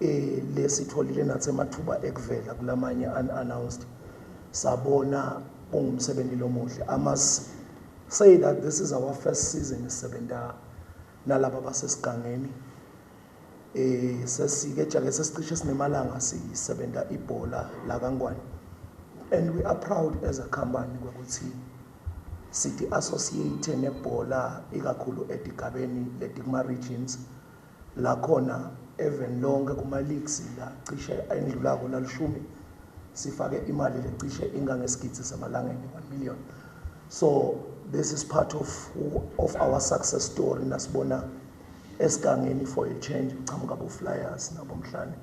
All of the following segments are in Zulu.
eh lesitholile nathi amathuba ekuvela kulamanye unannounced sabona kungumsebenzi lomuhle i must say that this is our first season sisebenza nalaba basesigangeni eh sesike jake sesicishe sinemalanga sisebenza ibhola la kaNgwane and we are proud as a company ukuthi sithi associate nebhola ikakhulu edigabeni letikuma regions Nakhona eveni lonke kuma-leagues la cishe ayendlulako lalishumi sifake imali le cishe ingangesigidi samalangeni, one million. So this is part of, of our success story nasibona esigangeni for a change kuqhamuka bo-flyers nabomhlane.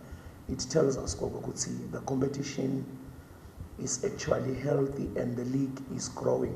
It tells us koko ukuthi the competition is actually healthy and the league is growing.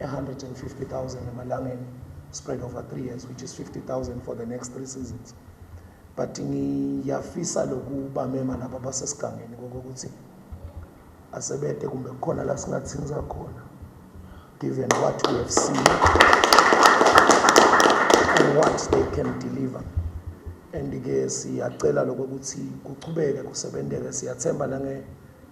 150,000 emalangeni spread over three years which is 50,000 for the next three seasons but ngiyafisa lokubamema laba basesigangeni kokokuthi asebede kumbe kukhona la singathinza khona given what we have seen and what they can deliver and-ke siyacela lokokuthi kuchubeke kusebenteke siyathemba nange